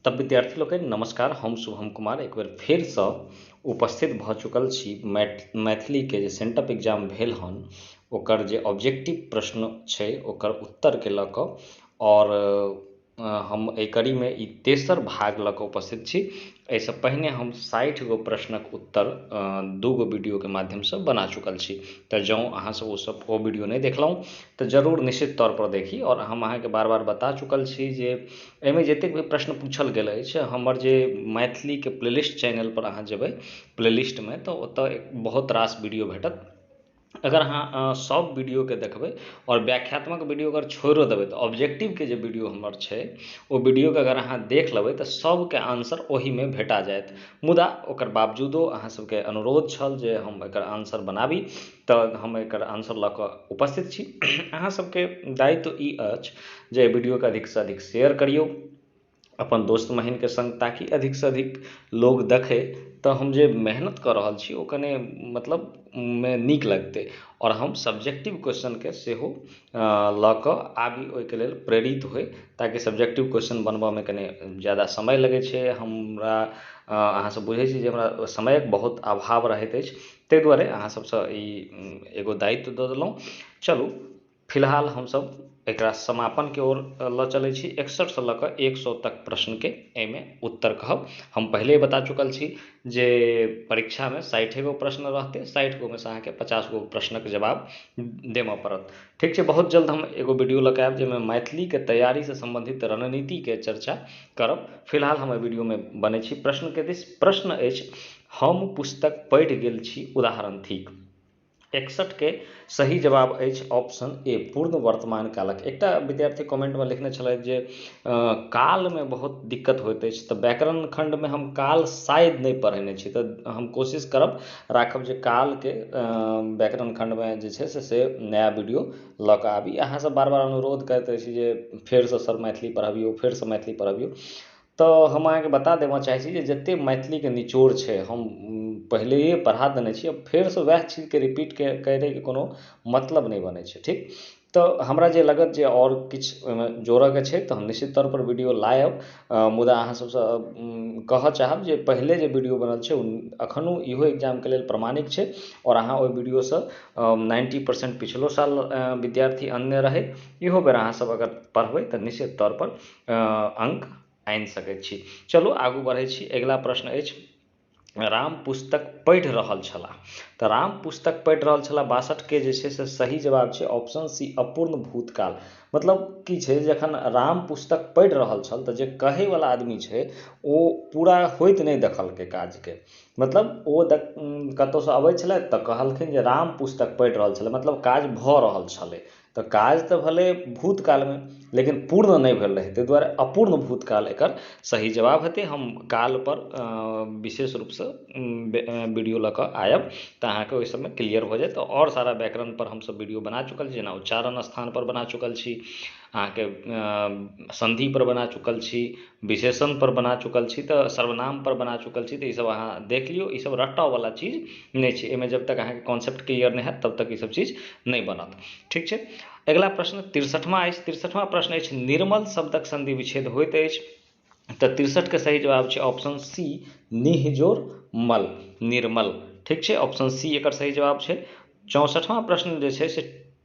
तब विद्यार्थी लोकनि नमस्कार हम शुभम कुमार एक बेर फेरसँ उपस्थित भऽ चुकल छी मैथ मैथिलीके जे सेंटअप एग्जाम भेल हन ओकर जे ऑब्जेक्टिव प्रश्न छै ओकर उत्तरके लऽ कऽ आओर हम एहि कड़ीमे ई तेसर भाग लऽ कऽ उपस्थित छी एहिसँ पहिने हम साठि गो प्रश्नक उत्तर दू गो वीडियोके माध्यमसँ बना चुकल छी तऽ जँ अहाँ सब ओ सब ओ वीडियो नहि देखलहुँ तऽ जरूर निश्चित तौर पर देखी आओर हम अहाँकेँ बार बार बता चुकल छी जे एहिमे जतेक भी प्रश्न पूछल गेल अछि हमर जे मैथिलीके प्ले लिस्ट चैनल पर अहाँ जयबै प्ले लिस्टमे तऽ ओतऽ बहुत रास वीडियो भेटत अगर अहाँ सभ वीडियोके देखबै आओर व्याख्यात्मक वीडियो अगर छोड़ियो देबै तऽ ऑब्जेक्टिवके जे वीडियो हमर छै ओ वीडियोके अगर अहाँ देख लेबै तऽ सभके आन्सर ओहिमे भेटा जायत मुदा ओकर बावजूदो अहाँ सभके अनुरोध छल जे हम एकर आन्सर बनाबी तऽ हम एकर आन्सर लऽ कऽ उपस्थित छी अहाँ सभके दायित्व ई अछि जे वीडियोके अधिकसँ अधिक शेयर करियौ अपन दोस्त महीमके सङ्ग ताकि अधिकसँ अधिक लोक देखै तऽ हम जे मेहनत कऽ रहल छी ओ कने मतलब मे नीक लगतै आओर हम सब्जेक्टिव क्वेश्चनके सेहो लऽ कऽ आबी ओहिके लेल प्रेरित होइ ताकि सब्जेक्टिव क्वेश्चन बनबऽमे कने ज्यादा समय लगै छै हमरा अहाँ सब बुझै छी जे हमरा समयके बहुत अभाव रहैत अछि ताहि दुआरे अहाँ सबसँ ई एगो दायित्व दऽ देलहुँ चलू फिलहाल हमसब एकरा समापनके ओर लऽ चलै छी एकसठि सऽ लऽ कऽ एक सए तक प्रश्नके एहिमे उत्तर कहब हम पहिले बता चुकल छी जे परीक्षामे साठि गो प्रश्न रहतै साठि गो मे सऽ अहाँके पचास गो प्रश्नक जवाब देबऽ पड़त ठीक छै बहुत जल्द हम एगो वीडियो लऽ कऽ आयब जाहिमे मैथिलीके तैयारी सऽ सम्बन्धित रणनीतिके चर्चा करब फिलहाल हम एहि वीडियोमे बनै छी प्रश्नके दिस प्रश्न अछि हम पुस्तक पढ़ि गेल छी उदाहरण थिक एकसठ के सही जवाब अछि ऑप्शन ए पूर्ण वर्तमान कालक एकटा विद्यार्थी कमेंटमे लिखने छलथि जे कालमे बहुत दिक्कत होइत अछि तऽ व्याकरण खण्डमे हम काल शायद नहि पढ़ेने छी तऽ हम कोशिश करब राखब जे कालके व्याकरण खण्डमे जे छै से से नया वीडियो लऽ कऽ आबी अहाँसँ बार बार अनुरोध करैत रहैत छी जे फेरसँ सर मैथिली पढ़बियौ फेरसँ मैथिली पढ़बियौ तऽ हम अहाँकेँ बता देबऽ चाहैत छी जे जते मैथिलीके निचोड़ छै हम पहिलैये पढ़ा देने छी फेरसँ ओएह चीजके रिपीट करैके कोनो मतलब नहि बनैत छै ठीक तऽ हमरा जे लागत जे आओर किछु ओहिमे जोड़ऽके छै तऽ हम निश्चित तौर पर वीडियो लायब मुदा अहाँ सबसँ कहऽ चाहब जे पहिले जे वीडियो बनल छै ओ अखनो इहो एक्जामके लेल प्रमाणिक छै आओर अहाँ ओहि वीडियोसँ नाइन्टी परसेन्ट पिछलो साल विद्यार्थी अनने रहै इहो बेर अहाँ सब अगर पढ़बै तऽ निश्चित तौर पर अङ्क आनि सकैत छी चलू आगू बढ़ैत छी अगिला प्रश्न अछि राम पुस्तक पढ़ि रहल छलाह तऽ राम पुस्तक पढ़ि रहल छलाह बासठके जे छै से सही जवाब छै ऑप्शन सी अपूर्ण भूतकाल मतलब की छै जखन राम पुस्तक पढ़ि रहल छल तऽ जे कहैवला आदमी छै ओ पूरा होइत नहि देखलकै काजके मतलब ओ कतहुसँ अबैत छलथि तऽ कहलखिन जे राम पुस्तक पढ़ि रहल छलथि मतलब काज भऽ रहल छलै तऽ काज तऽ भेलै भूतकालमे लेकिन पूर्ण नहि भेल रहै ताहि दुआरे अपूर्ण भूतकाल एकर सही जवाब हेतै हम काल पर विशेष रूपसँ वीडियो लऽ कऽ आयब तऽ अहाँके ओहि सभमे क्लियर भऽ जायत आओर सारा व्याकरण पर हम सभ वीडियो बना चुकल छी जेना उच्चारण स्थान पर बना चुकल छी अहाँके सन्धि पर बना चुकल छी विशेषण पर बना चुकल छी तऽ सर्वनाम पर बना चुकल छी तऽ ई सभ अहाँ देख लियौ ई सभ रटऽ बला चीज नहि छै एहिमे जब तक अहाँकेँ कॉन्सेप्ट क्लियर नहि होयत तब तक ई सभ चीज नहि बनत ठीक छै अगिला प्रश्न तिरसठमा अछि तिरसठमा प्रश्न अछि निर्मल शब्दक सन्धि विच्छेद होइत अछि तऽ तिरसठके सही जवाब छै ऑप्शन सी निहजोर मल निर्मल ठीक छै ऑप्शन सी एकर सही जवाब छै चौसठमा प्रश्न जे छै से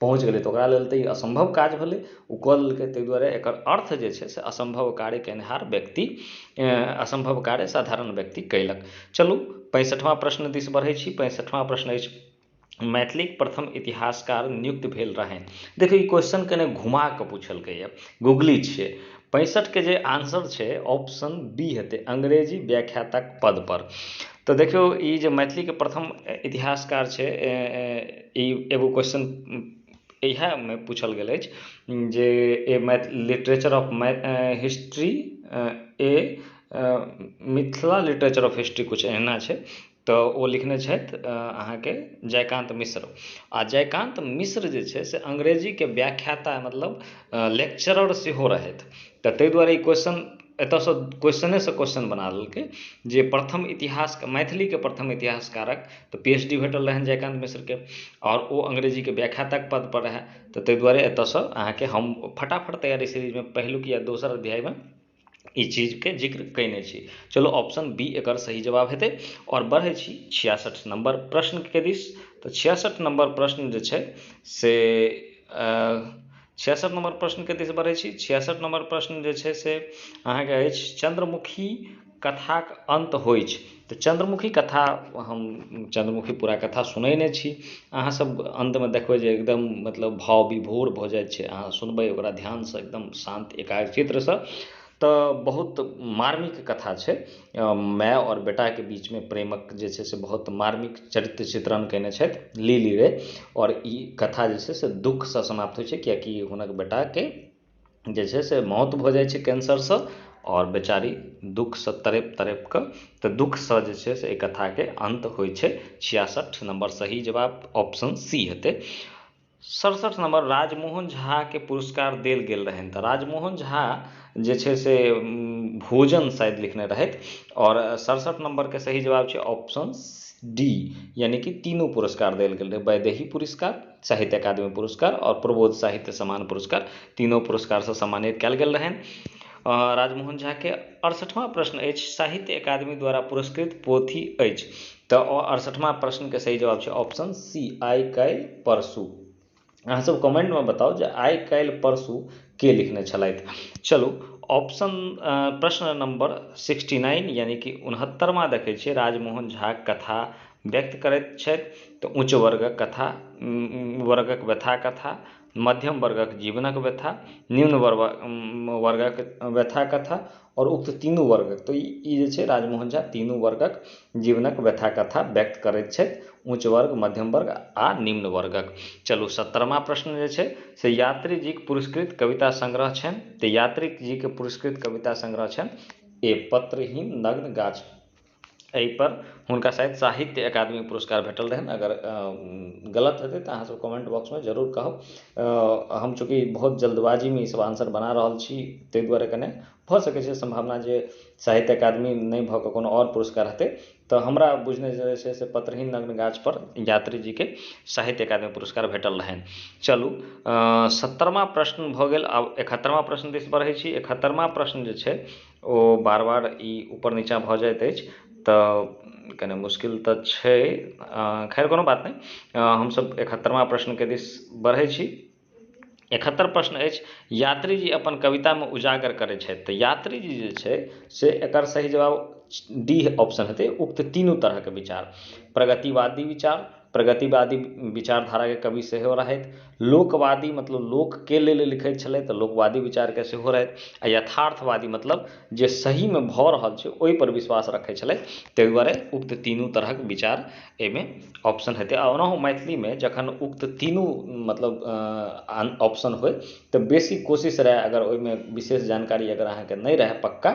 पहुँच गेलै तऽ ओकरा लेल तऽ ई असम्भव काज भेलै ओ कऽ लेलकै ताहि दुआरे एकर अर्थ जे छै से असम्भव कार्य केनिहार व्यक्ति असम्भव कार्य साधारण व्यक्ति कयलक चलू पैंसठिमा प्रश्न दिस बढ़ैत छी पैंसठिमा प्रश्न अछि मैथिलीक प्रथम इतिहासकार नियुक्त भेल रहनि देखियौ ई क्वेश्चन कने घुमा कऽ पूछलकैए गुगली छियै पैंसठिके जे आंसर छै ऑप्शन बी हेतै अंग्रेजी व्याख्यातक पदपर तऽ देखियौ ई जे मैथिलीके प्रथम इतिहासकार छै ई एगो क्वेश्चन इएहमे पूछल गेल अछि जे a math literature of math history a Mithila literature of history किछु एहिना छै तऽ ओ लिखने छथि अहाँके जयकान्त मिश्र आ जयकान्त मिश्र जे छै से अंग्रेजीके व्याख्याता मतलब लेक्चरर सेहो रहथि तऽ ताहि दुआरे ई क्वेश्चन एतऽसँ क्वेश्चनेसँ क्वेश्चन बना देलकै जे प्रथम इतिहास मैथिलीके प्रथम इतिहासकारक तऽ पी एच डी भेटल रहनि जयकान्त मिश्रके आओर ओ अंग्रेजीके व्याख्याताके पदपर रहै तऽ ताहि दुआरे एतऽसँ अहाँके हम फटाफट तैयारी सीरीजमे पहिलुक या दोसर अध्यायमे ई चीजके जिक्र कएने छी चलू ऑप्शन बी एकर सही जवाब हेतै आओर बढ़ै छी छियासठि नम्बर प्रश्नके दिस तऽ छियासठि नम्बर प्रश्न जे छै से छियासठ नम्बर प्रश्नके दिस बढ़ै छी छियासठ नम्बर प्रश्न जे छै से अहाँके अछि चन्द्रमुखी कथाक अन्त होइ अछि तऽ चन्द्रमुखी कथा हम चन्द्रमुखी पूरा कथा सुनैने छी अहाँ सब अन्तमे देखबै जे एकदम मतलब भाव विभोर भऽ जाइ छै अहाँ सुनबै ओकरा ध्यानसँ एकदम शान्त एकाग्रचित्तसँ तऽ बहुत मार्मिक कथा छै माय आओर बेटाके बीचमे प्रेमक जे छै से बहुत मार्मिक चरित्र चित्रण कयने छथि लीली रे आओर ई कथा जे छै से दुःखसँ समाप्त होइत छै किआकि हुनक बेटाके जे छै से मौत भऽ जाइत छै कैंसरसँ आओर बेचारी दुःखसँ तड़पि तड़पि कऽ तऽ दुःखसँ जे छै से एहि कथाके अन्त होइत छै छियासठि नम्बर सही जवाब ऑप्शन सी हेतै सड़सठि नम्बर राजमोहन झाके पुरस्कार देल गेल रहनि तऽ राजमोहन झा जे छै से भोजन शायद लिखने रहथि आओर सड़सठि नम्बरके सही जवाब छै ऑप्शन डी यानि कि तीनू पुरस्कार देल गेल रहै वैदेही पुरस्कार साहित्य अकादमी पुरस्कार आओर प्रबोध साहित्य सम्मान पुरस्कार तीनो पुरस्कारसँ सम्मानित कयल गेल रहनि राजमोहन झाके अड़सठिमा प्रश्न अछि साहित्य अकादमी द्वारा पुरस्कृत पोथी अछि तऽ अड़सठमा प्रश्नके सही जवाब छै ऑप्शन सी आइ काल्हि परसू अहाँसभ कमेंटमे बताउ जे आइ काल्हि परसू के लिखने छलथि चलू ऑप्शन प्रश्न नंबर सिक्सटी नाइन यानी कि उनहत्तरमा देखै छियै राजमोहन झा कथा व्यक्त करैत छथि तऽ उच्च वर्गक कथा वर्गक व्यथा कथा मध्यम वर्गक जीवनक व्यथा निम्न वर्गक व्यथा कथा आओर उक्त तीनू वर्ग तऽ ई जे छै राजमोहन झा तीनू वर्गक जीवनक व्यथा कथा व्यक्त करैत छथि ऊँच वर्ग मध्यम वर्ग आ निम्न वर्गक चलू सत्तरिमा प्रश्न जे छै से यात्री जीक पुरस्कृत कविता संग्रह छनि तऽ यात्री जीक पुरस्कृत कविता संग्रह छनि एक पत्रहीन नग्न गाछ एहि पर हुनका शायद साहित्य अकादमी पुरस्कार भेटल रहनि अगर गलत हेतै तऽ अहाँ सब कमेन्ट बॉक्समे जरूर कहब हम चूँकि बहुत जल्दबाजीमे ई सब आन्सर बना रहल छी ताहि दुआरे कने भऽ सकै छै सम्भावना जे साहित्य अकादमी नहि भऽ कऽ कोनो आओर पुरस्कार हेतै तऽ हमरा बुझने जे छै से पत्रहीन नग्न गाछ पर यात्री जीके साहित्य अकादमी पुरस्कार भेटल रहनि चलू सत्तरमा प्रश्न भऽ गेल आब एकहत्तरमा प्रश्न दिस बढ़ै छी एकहत्तरमा प्रश्न जे छै ओ बार बार ई ऊपर नीचाँ भऽ जाइत अछि तऽ कने मुश्किल तऽ छै खैर कोनो बात नहि हमसभ एकहत्तरिमा प्रश्नके दिश बढ़ैत छी एकहत्तरि प्रश्न अछि यात्री जी अपन कवितामे उजागर करैत छथि तऽ यात्री जी जे छै से एकर सही जवाब डी ऑप्शन हेतै उक्त तीनू तरहके विचार प्रगतिवादी विचार प्रगतिवादी विचारधाराके कवि सेहो रहथि लोकवादी मतलब लोकके लेल लिखैत छलथि तऽ लोकवादी विचारके सेहो रहथि आ यथार्थवादी मतलब जे सहीमे भऽ रहल छै ओहि पर विश्वास रखैत छलथि ताहि दुआरे उक्त तीनू तरहक विचार एहिमे ऑप्शन हेतै आ ओनाहु मैथिलीमे जखन उक्त तीनू मतलब ऑप्शन होय तऽ बेसी कोशिश रहै अगर ओहिमे विशेष जानकारी अगर अहाँकेँ नहि रहै पक्का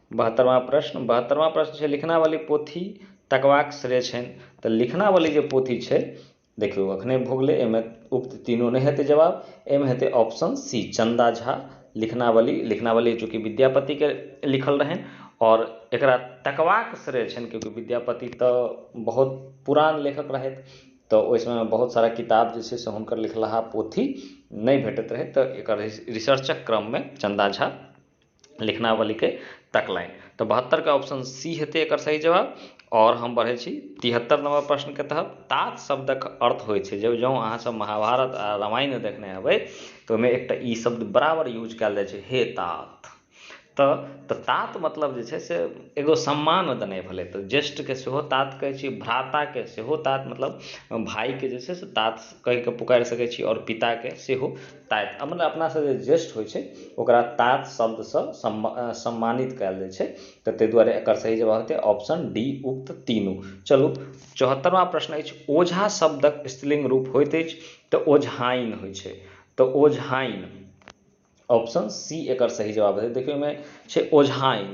बहत्तरवाँ प्रश्न बहत्तरवाँ प्रश्न छै लिखनावली पोथी तकबाक श्रेय छनि तऽ लिखनावली जे पोथी छै देखियौ अखने भऽ गेलै एहिमे उक्त तीनू नहि हेतै जवाब एहिमे हेतै ऑप्शन सी चन्दा झा लिखनावली लिखनावली चूँकि विद्यापतिके लिखल रहनि आओर एकरा तकबाक श्रेय छनि किएकि विद्यापति तऽ बहुत पुरान लेखक रहथि तऽ ओहि समयमे बहुत सारा किताब जे छै से हुनकर लिखलाहा पोथी नहि भेटैत रहै तऽ एकर रिसर्चक क्रममे चन्दा झा लिखनावलीके तकलनि तऽ बहत्तरिके ऑप्शन सी हेतै एकर सही जवाब आओर हम बढ़ै छी तिहत्तर नम्बर प्रश्नके तहत तात शब्दक अर्थ होइ छै जँ अहाँ सब महाभारत आओर रामायण देखने हेबै तऽ ओहिमे एकटा ई शब्द बराबर यूज कयल जाइ छै हे तात तऽ तात मतलब जे छै से एगो सम्मान देनाइ भेलै तऽ ज्येष्ठके सेहो तात कहै छियै भ्राताके सेहो तात मतलब भायके जे छै से तात कहिके पुकारि सकै छियै आओर पिताके सेहो ताति आ मने अपनासँ जे ज्येष्ठ होइत छै ओकरा तात शब्दसँ सम्मानित कयल जाइत छै तऽ ताहि दुआरे एकर सही जवाब हेतै ऑप्शन डी उक्त तीनू चलू चौहत्तरवाँ प्रश्न अछि ओझा शब्दक स्त्रीलिंग रूप होइत अछि तऽ ओझाइन होइत छै तऽ ओझाइन ऑप्शन सी एकर सही जवाब हेतै देखियौ ओहिमे छै ओझाइन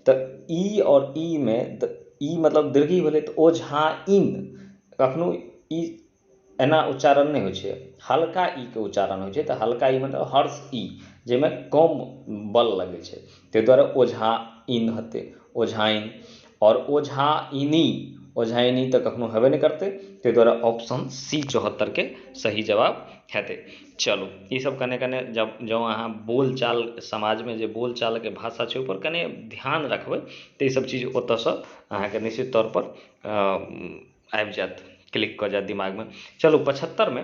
तऽ ई e आओर ई e मे ई e मतलब दीर्घी भेलै तऽ ओझाइन कखनो ई एना उच्चारण नहि होइ छै हल्का ई के उच्चारण होइ छै तऽ हल्का ई मतलब हर्ष ई जाहिमे कम बल लगै छै ताहि दुआरे ओझाइन हेतै ओझाइन आओर ओझाइनि ओझाइनि तऽ कखनो हेबे नहि करतै ताहि दुआरे ऑप्शन सी चौहत्तरिके सही जवाब हेतै चलू ई सभ कने कने जब जँ अहाँ बोलचाल समाजमे जे बोलचालके भाषा छै ओहिपर कने ध्यान रखबै तऽ ई सभ चीज ओतऽसँ अहाँके निश्चित तौर पर आबि जायत क्लिक कऽ जायत दिमागमे चलू पचहत्तरिमे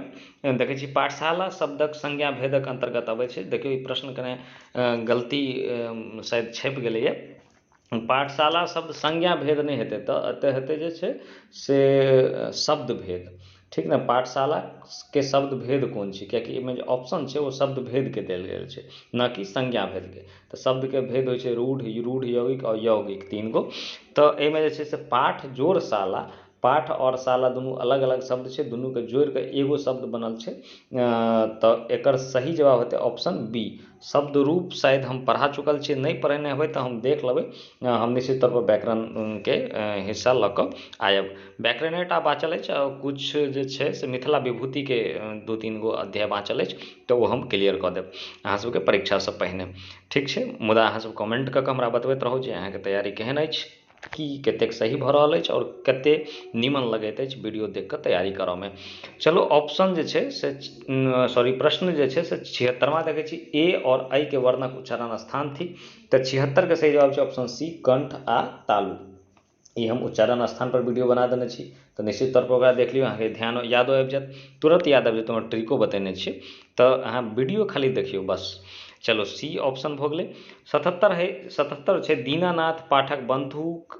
देखैत छी पाठशाला शब्दक संज्ञा भेदक अन्तर्गत अबैत छै देखियौ ई प्रश्न कने गलती शायद छपि गेलैए पाठशाला शब्द संज्ञा भेद नहि हेतै एतय एतय हेतै जे छै से शब्द भेद ठीक ने पाठशालाके शब्द भेद कोन छै कियाकि एहिमे जे ऑप्शन छै ओ शब्द भेदके देल गेल छै न कि संज्ञा भेदके तऽ शब्दके भेद होइ छै रूढ़ रूढ़ यौगिक आओर यौगिक तीन गो तऽ एहिमे जे छै से पाठ जोड़ शाला पाठ आओर शाला दुनू अलग अलग शब्द छै दुनूके जोड़िके एगो शब्द बनल छै तऽ एकर सही जवाब हेतै ऑप्शन बी शब्द रूप शायद हम पढ़ा चुकल छियै नहि पढ़ेने हेबै तऽ हम देख लेबै हम निश्चित तौर पर व्याकरणके हिस्सा लऽ कऽ आयब व्याकरणे टा बाँचल अछि आओर किछु जे छै से मिथिला विभूतिके दू तीन गो अध्याय बाँचल अछि तऽ ओ हम क्लियर कऽ देब अहाँ सभके परीक्षासँ पहिने ठीक छै मुदा अहाँ सभ कमेन्ट कऽ कऽ हमरा बतबैत रहू जे अहाँके तैयारी केहन अछि की कतेक सही भऽ रहल अछि आओर कते नीमन लगैत अछि वीडियो देख कऽ तैयारी करऽमे चलू ऑप्शन जे छै से सॉरी प्रश्न जे छै से छिहत्तरिमा देखै छी ए आओर एहिके वर्णक उच्चारण स्थान थिक तऽ छिहत्तरिके सही जवाब छै ऑप्शन सी कण्ठ आ तालु ई हम उच्चारण स्थानपर वीडियो बना देने छी तऽ निश्चित तौरपर ओकरा देख लियौ अहाँके ध्यान यादो आबि जायत तुरन्त याद आबि जायत ओहिमे ट्रिको बतेने छी तऽ अहाँ वीडियो खाली देखियौ बस चलू सी ऑप्शन भऽ गेलै सतहत्तरि हइ सतहत्तरि छै दीनानाथ पाठक बन्धुक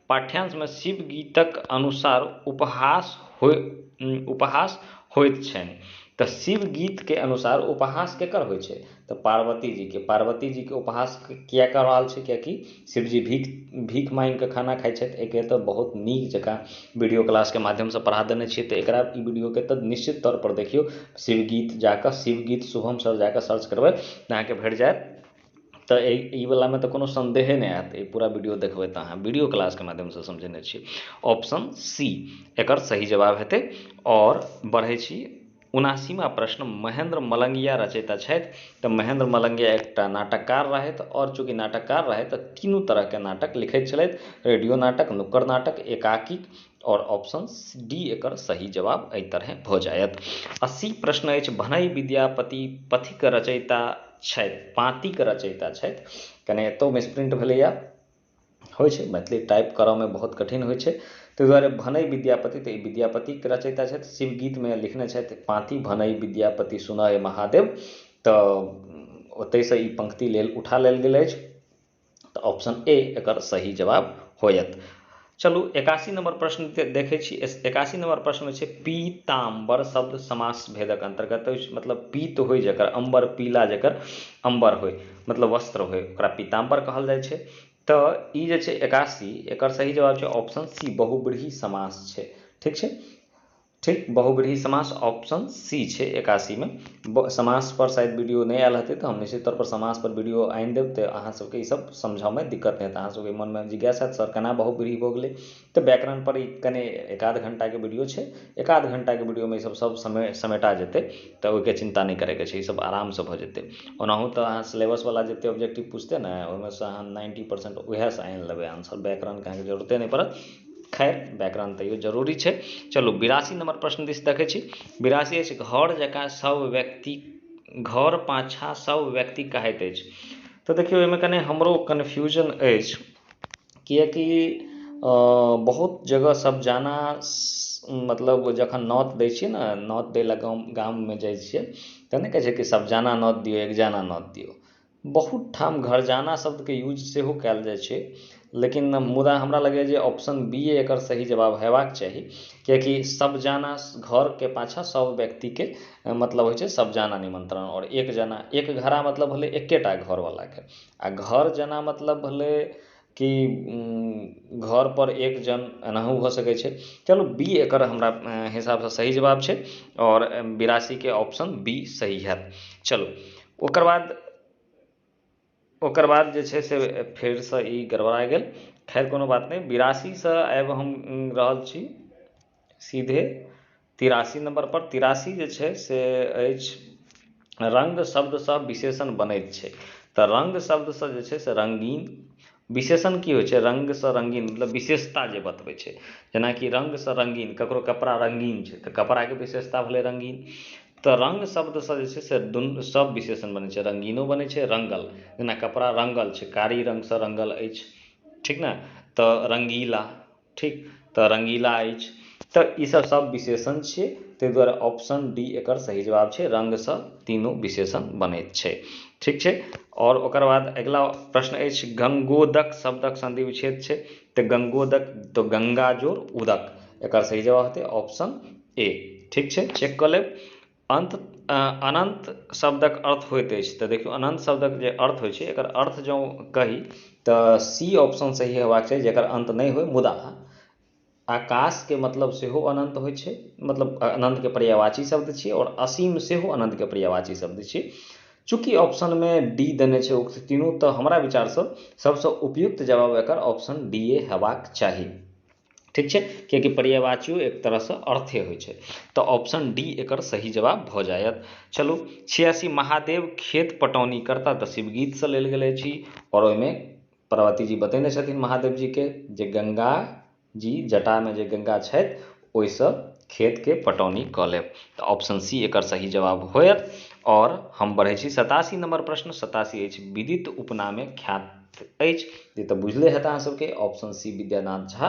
पाठ्यांशमे शिवगीतक अनुसार उपहास होइत छनि तँ शिवगीतके अनुसार उपहास केकर होइत छै तँ पार्वतीजीके। पार्वतीजीके उपहास किए कऽ रहल छै किएकि शिवजी भीख माँगि कऽ खाना खाइत छथि। एहिके तँ बहुत नीक जकाँ वीडियो क्लासके माध्यमसँ पढ़ा देने छियै तँ एकरा ई वीडियोके तँ निश्चित तौर पर देखियौ। शिवगीत जा कऽ शिवगीत शुभम सर जा कऽ सर्च करबै तँ अहाँकेँ भेट जायत। तऽ एहि ई बलामे तऽ कोनो सन्देहे नहि होयत ई पूरा वीडियो देखबै तऽ अहाँ वीडियो क्लासके माध्यमसँ समझेने छी ऑप्शन सी एकर सही जवाब हेतै आओर बढ़ैत छी उनासीमा प्रश्न महेन्द्र मलंगिया रचयिता छथि तऽ महेन्द्र मलंगिया एकटा नाटककार रहथि आओर चूँकि नाटककार रहथि तऽ तीनू तरहके नाटक लिखैत छलथि रेडियो नाटक नुक्कड़ नाटक एकाकी आओर ऑप्शन डी एकर सही जवाब एहि तरहे भऽ जायत अस्सी प्रश्न अछि भनई विद्यापति पथिक रचयिता छथि पाँतिक रचयिता छथि कने एतौ मिसप्रिंट भेलैया होइ छै मैथिली टाइप करऽमे बहुत कठिन होइ छै ताहि दुआरे भनई विद्यापति तऽ ई विद्यापतिक रचयिता छथि शिवगीतमे लिखने छथि पाँति भनई विद्यापति सुनय महादेव तऽ ओतहिसँ ई पंक्ति लेल उठा लेल गेल अछि तऽ ऑप्शन ए एकर सही जवाब होयत चलू एकासी नम्बर प्रश्न देखै छी एकासी नम्बर प्रश्नमे छै पीताम्बर शब्द समास भेदक अन्तर्गत अछि मतलब पीत होइ जकर अम्बर पीला जकर अम्बर होइ मतलब वस्त्र होइ ओकरा पीताम्बर कहल जाइ छै तऽ ई जे छै एकासी एकर सही जवाब छै ऑप्शन सी बहुब्रीहि समास छै ठीक छै ठीक बहुब्रीहि समास ऑप्शन सी छै एकासीमे समासपर शायद वीडियो नहि आयल हेतै तऽ हम निश्चित तौरपर समासपर वीडियो आनि देब तऽ अहाँसभके ईसभ समझयमे दिक्कत नहि हेतै अहाँसभके मनमे जिज्ञासा हैत सर केना बहुब्रीहि भऽ गेलै तऽ व्याकरणपर ई कने एक आध घण्टाके वीडियो छै एक आध घण्टाके वीडियोमे ईसभ सभ समे समेटा जेतै तऽ ओहिके चिन्ता नहि करयके छै ईसभ आरामसँ भऽ जेतै ओनाहु तऽ अहाँ सिलेबसवला जतेक ऑब्जेक्टिव पुछतै ने ओहिमेसँ अहाँ नाइन्टी परसेंट उएहसँ आनि लेबै आंसर व्याकरणके अहाँकेँ जरूरते नहि पड़त खैर व्याकरण तैयो जरूरी छै चलू बिरासी नम्बर प्रश्न दिस देखै छी बिरासी अछि घर जकाँ सभ व्यक्ति घर पाछाँ सभ व्यक्ति कहैत अछि तऽ देखियौ एहिमे कने हमरो कन्फ्यूजन अछि किएकि बहुत जगह सभ जाना मतलब जखन नौत दै छियै ने नौत दै लए गाम गाममे जाइ छियै तऽ नहि कहै छै कि सभ जाना नौत दियौ एक जाना नौत दियौ बहुत ठाम घरजाना शब्दके यूज सेहो कयल जाइत छै लेकिन मुदा हमरा लगैया जे ऑप्शन बी ए एकर सही जवाब होयबाक चाही किआकि सब जाना घरके पाछाँ सब व्यक्तिके मतलब होइत छै सब जाना निमंत्रण आओर एक जाना एक घड़ा मतलब भेलै एकेटा घर बलाके आ घर जाना मतलब भेलै कि घर पर एक जन एनाहु भऽ सकै छै चलू बी एकर हमरा हिसाबसँ सही जवाब छै आओर बिरासीके ऑप्शन बी सही होयत चलू ओकर बाद ओकर बाद जे छै से फेरसँ ई गड़बड़ा गेल खैर कोनो बात नहि बिरासीसँ आबि हम रहल छी सीधे तिरासी नम्बरपर तिरासी जे छै से अछि रङ्ग शब्दसँ विशेषण बनैत छै तऽ रङ्ग शब्दसँ जे छै से रङ्गीन विशेषण की होइत छै रङ्गसँ रङ्गीन मतलब विशेषता जे बतबैत छै जेनाकि रङ्गसँ रङ्गीन ककरो कपड़ा रङ्गीन छै तऽ कपड़ाके विशेषता भेलै रङ्गीन तऽ रङ्ग शब्दसँ जे छै से दुनू सभ विशेषण बनैत छै रङ्गीनो बनैत छै रङ्गल जेना कपड़ा रङ्गल छै कारी रङ्गसँ रङ्गल अछि ठीक ने तऽ रङ्गीला ठीक तऽ रङ्गीला अछि तऽ ई सब सब विशेषण छियै ताहि दुआरे ऑप्शन डी एकर सही जवाब छै रङ्गसँ तीनू विशेषण बनैत छै ठीक छै आओर ओकर बाद अगिला प्रश्न अछि गङ्गोदक शब्दक सन्धि विच्छेद छै तऽ गङ्गोदक तऽ गङ्गा जोड़ उदक एकर सही जवाब हेतै ऑप्शन ए ठीक छै चेक कऽ लेब अन्त अनन्त शब्दक अर्थ होइत अछि तऽ देखियौ अनन्त शब्दक जे अर्थ होइ छै एकर अर्थ जँ कही तऽ सी ऑप्शन सही होयबाक चाही जकर अन्त नहि होइ मुदा आकाशके मतलब सेहो अनन्त होइ छै मतलब अनन्तके पर्यायवाची शब्द छियै आओर असीम सेहो अनन्तके पर्यायवाची शब्द छियै चूँकि ऑप्शनमे डी देने छै उक्त तीनू तऽ हमरा विचारसँ सभसँ उपयुक्त जवाब एकर ऑप्शन डी ए हेबाक चाही ठीक छै कियाकि पर्यायवाचियो एक तरहसँ अर्थे होइत छै तऽ ऑप्शन डी एकर सही जवाब भऽ जायत चलू छियासी महादेव खेत पटौनी करता तऽ शिवगीतसँ लेल गेल अछि आओर ओहिमे पार्वती जी बतेने छथिन महादेव जीके जे गङ्गा जी जटामे जे गङ्गा छथि ओहिसँ खेतके पटौनी कऽ लेब तऽ ऑप्शन सी एकर सही जवाब होयत आओर हम बढ़ैत छी सतासी नम्बर प्रश्न सतासी अछि विदित उपनामे ख्यात अछि ई तऽ बुझले होयत अहाँ सबके ऑप्शन सी विद्यानाथ झा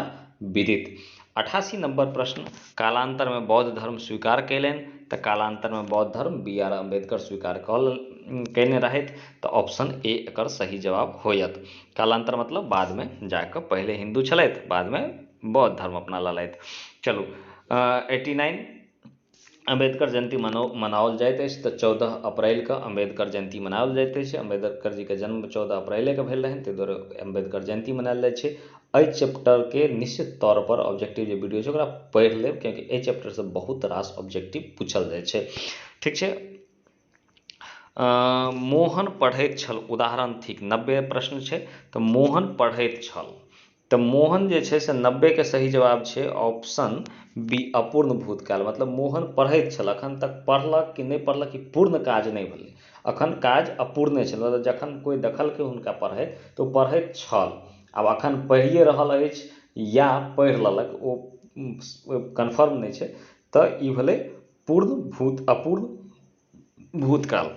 विदित अठासी नम्बर प्रश्न कालान्तरमे बौद्ध धर्म स्वीकार कयलनि तऽ कालान्तरमे बौद्ध धर्म बी आर अम्बेडकर स्वीकार कऽ लेलनि कयने रहथि तऽ ऑप्शन ए एकर सही जवाब होयत कालान्तर मतलब बादमे जाकऽ पहिले हिन्दू छलथि बादमे बौद्ध धर्म अपना लेलथि चलू एटी नाइन अम्बेडकर जयन्ती मनाओल जाइत अछि तऽ चौदह अप्रैल कऽ अम्बेडकर जयन्ती मनाओल जाइत अछि अम्बेडकर जीके जन्म चौदह अप्रैले कऽ भेल रहनि ताहि दुआरे अम्बेडकर जयन्ती मनाओल जाइत छै एहि चैप्टरके निश्चित तौर पर ऑब्जेक्टिव जे वीडियो छै ओकरा पढ़ि लेब किएकि एहि चैप्टरसँ बहुत रास ऑब्जेक्टिव पूछल जाइत छै ठीक छै मोहन पढ़ैत छल उदाहरण थिक नब्बे प्रश्न छै तऽ मोहन पढ़ैत छल तऽ मोहन जे छै से नब्बेके सही जवाब छै ऑप्शन बी अपूर्ण भूतकाल मतलब मोहन पढ़ैत छल अखन तक पढ़लक कि नहि पढ़लक ई पूर्ण काज नहि भेलै अखन काज अपूर्णे छल मतलब जखन कोइ देखलकै हुनका पढ़ैत तऽ ओ पढ़ैत छल आब अखन पढ़िए रहल अछि या पढ़ि लेलक ओ कन्फर्म नहि छै तऽ ई भेलै पूर्ण भूत अपूर्ण भूतकाल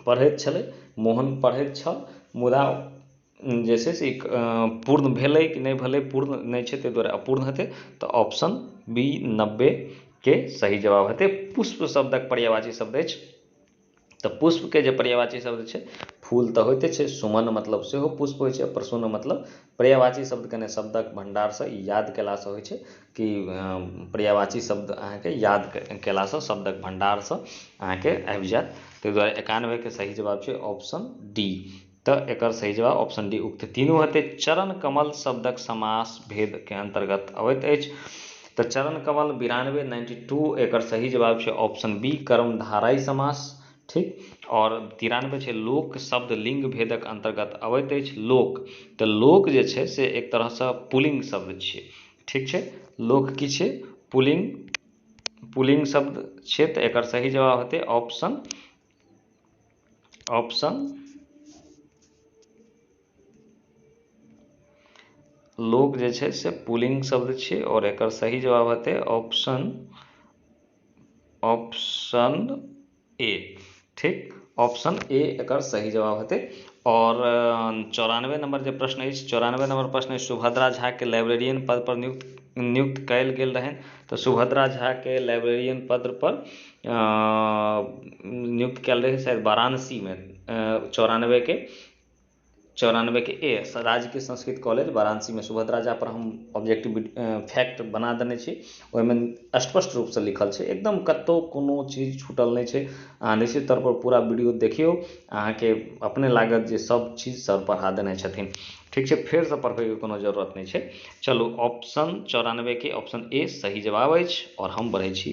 पढ़ैत छलै मोहन पढ़ैत छल मुदा जे छै से पूर्ण भेलै कि नहि भेलै पूर्ण नहि छै ताहि दुआरे अपूर्ण हेतै तऽ ऑप्शन बी नब्बेके सही जवाब हेतै पुष्प शब्दक पर्यायवाची शब्द अछि तऽ पुष्पके जे पर्यायवाची शब्द छै फूल तऽ होइते छै सुमन मतलब सेहो पुष्प होइत छै आ प्रसून मतलब पर्यायवाची शब्द कयने शब्दक भण्डारसँ ई याद कयलासँ होइत छै कि पर्यायवाची शब्द अहाँकेँ याद कयलासँ शब्दक भण्डारसँ अहाँकेँ आबि जायत ताहि द्वारे एकानबेके सही जवाब छै ऑप्शन डी त एकर सही जवाब ऑप्शन डी उक्त तीनू हेतै। चरण कमल शब्दक समास भेद कें अंतर्गत अबैत अछि। त चरण कमल बिरानवे, नाइन्टी टू, एकर सही जवाब छै ऑप्शन बी कर्मधारय समास। ठीक। और तिरानवे छै लोक शब्द लिंग भेदक अंतर्गत अबैत अछि। लोक। त लोक जे छै से एक तरह स पुलिंग शब्द छियै। ठीक छै। लोक की छियै? पुलिंग पुलिंग शब्द छियै। त एकर सही जवाब हेतै ऑप्शन ऑप्शन लोक जे छै से पुलिंग शब्द छियै आओर एकर सही जवाब हेतै ऑप्शन ऑप्शन ए ठीक ऑप्शन ए एकर सही जवाब हेतै और चौरानवे नंबर जे प्रश्न अछि चौरानवे नंबर प्रश्न अछि सुभद्रा झा के लाइब्रेरियन पद पर नियुक्त नियुक्त कयल गेल रहनि तऽ सुभद्रा झा के लाइब्रेरियन पद पर नियुक्त कयल रहै शायद वाराणसीमे चौरानबेके चौरानबेके ए एस राजकीय संस्कृत कॉलेज वाराणसीमे सुभद्रा झापर हम ऑब्जेक्टिव फैक्ट बना देने छी ओहिमे स्पष्ट रूपसँ लिखल छै एकदम कतहु कोनो चीज छूटल नहि छै अहाँ निश्चित तौरपर पूरा वीडियो देखियौ अहाँके अपने लागत जे सभ चीज सर पढ़ा देने छथिन ठीक छै फेरसँ पढ़बैके कोनो जरूरत नहि छै चलू ऑप्शन चौरानबेके ऑप्शन ए सही जवाब अछि आओर हम बढ़ैत छी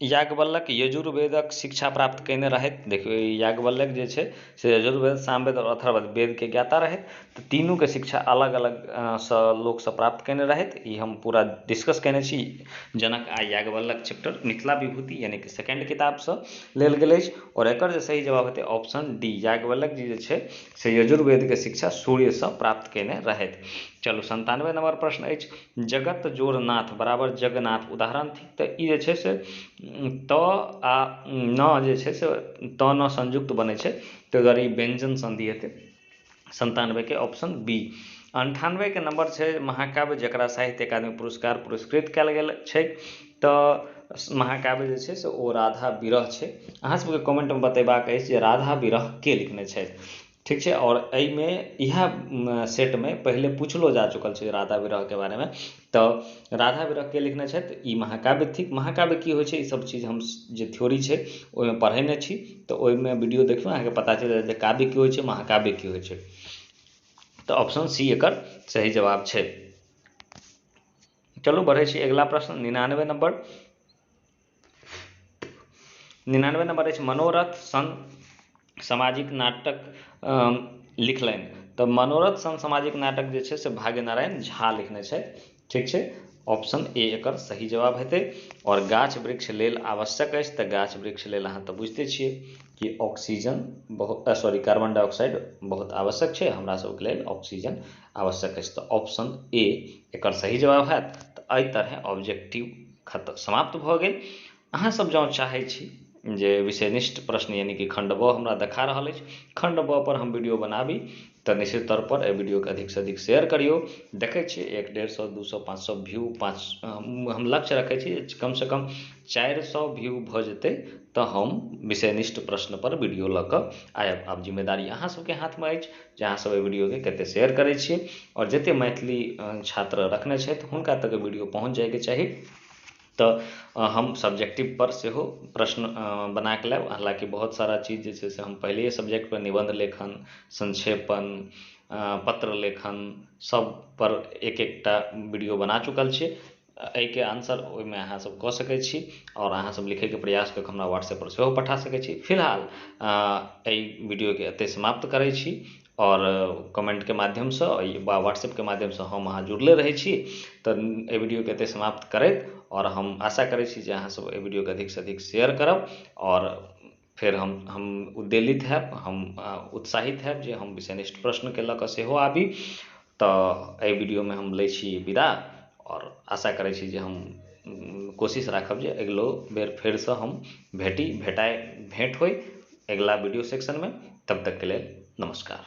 याज्ञवल्क्य यजुर्वेदक शिक्षा प्राप्त कयने रहथि देखियौ ई याज्ञवल्क्य जे छै से यजुर्वेद सामवेद आओर अथर्ववेद वेदके ज्ञाता रहथि तीनूके शिक्षा अलग अलगसँ लोकसँ प्राप्त कयने रहथि ई हम पूरा डिस्कस कयने छी जनक आ याज्ञवल्क्य चैप्टर मिथिला विभूति यानिकि सेकण्ड किताबसँ लेल गेल अछि आओर एकर जे सही जवाब हेतै ऑप्शन डी याज्ञवल्क्य जी जे छै से यजुर्वेदके शिक्षा सूर्यसँ प्राप्त कयने रहथि चलू सन्तानबे नम्बर प्रश्न अछि जगत जोड़ नाथ बराबर जगन्नाथ उदाहरण तऽ ई जे छै से त आ न जे छै से त न संयुक्त बनै छै ताहि दुआरे ई व्यञ्जन सन्धि हेतै सन्तानबेके ऑप्शन बी अन्ठानबेके नम्बर छै महाकाव्य जकरा साहित्य अकादमी पुरस्कार पुरस्कृत कयल गेल छै तऽ महाकाव्य जे छै से ओ राधा विरह छै अहाँ सभके कमेन्टमे बतेबाक अछि जे राधा विरह के लिखने छथि ठीक छै आओर एहिमे इएह सेटमे पहिले पुछलो जा चुकल छै राधा विरहके बारेमे तऽ राधा विरह के लिखने छथि ई महाकाव्य थिक महाकाव्य की होइत छै ई सभ चीज हम जे थ्योरी छै ओहिमे पढ़ेने छी तऽ ओहिमे वीडियो देखियौ अहाँकेँ पता चलि जायत जे काव्य की होइत छै महाकाव्य की होइत छै तऽ ऑप्शन सी एकर सही जवाब छै चलू बढ़ैत छी अगिला प्रश्न निनानबे नम्बर निनानबे नम्बर अछि मनोरथ सन सामाजिक नाटक लिखलनि तऽ मनोरथ सन सामाजिक नाटक जे छै से भाग्य नारायण झा लिखने छथि ठीक छै ऑप्शन ए एकर सही जवाब हेतै आओर गाछ वृक्ष लेल आवश्यक अछि तऽ गाछ वृक्ष लेल अहाँ तऽ बुझिते छियै कि ऑक्सीजन बहुत सॉरी कार्बन डाइऑक्साइड बहुत आवश्यक छै हमरा सबके लेल ऑक्सीजन आवश्यक अछि तऽ ऑप्शन ए एकर सही जवाब हैत तऽ एहि तरहे ऑब्जेक्टिव खतम समाप्त भऽ गेल अहाँ सब जँ चाहै छी जे विषय निष्ठ प्रश्न यानि कि खण्ड ब हमरा देखा रहल अछि खण्ड ब पर हम वीडियो बनाबी तऽ निश्चित तौर पर एहि वीडियो के अधिक से अधिक शेयर करियौ देखै छियै एक डेढ़ सए दू सए पाँच सए व्यू पाँच हम लक्ष्य रखै छी कम से कम चारि सए व्यू भऽ जेतै तऽ हम विषय निष्ठ प्रश्न पर वीडियो लऽ कऽ आयब आब जिम्मेदारी अहाँ सबके हाथ मे अछि जे अहाँ सब एहि वीडियोके कते शेयर करै छी आओर जते मैथिली छात्र रखने छथि हुनका तक वीडियो पहुँच जाइके चाही तऽ हम सब्जेक्टिव पर सेहो प्रश्न बनाके लायब हालाँकि बहुत सारा चीज जे छै से हम पहिलैये सब्जेक्ट पर निबन्ध लेखन संक्षेपण पत्र लेखन सब पर एक एकटा वीडियो बना चुकल छी एहिके आन्सर ओहिमे अहाँ सभ कऽ सकैत छी आओर अहाँ सभ लिखैके प्रयास कऽ कऽ हमरा व्हाट्सएप पर सेहो पठा सकैत छी फिलहाल एहि वीडियोके एतै समाप्त करैत छी आओर कमेन्टके माध्यमसँ वा व्हाट्सएपके माध्यमसँ हम अहाँ जुड़ले रहैत छी तऽ एहि वीडियोके एतै समाप्त करैत आओर हम आशा करैत छी जे अहाँ सभ एहि वीडियोके अधिकसँ अधिक शेयर करब आओर फेर हम हम उद्वेलित होयब हम उत्साहित होयब जे हम विषयनिष्ठ प्रश्नके लऽ कऽ सेहो आबी तऽ एहि वीडियोमे हम लै छी विदा आओर आशा करैत छी जे हम कोशिश राखब जे अगिलो बेर फेरसँ हम भेटी भेटाइ भेट होइ अगिला वीडियो सेक्शनमे तब तकके लेल नमस्कार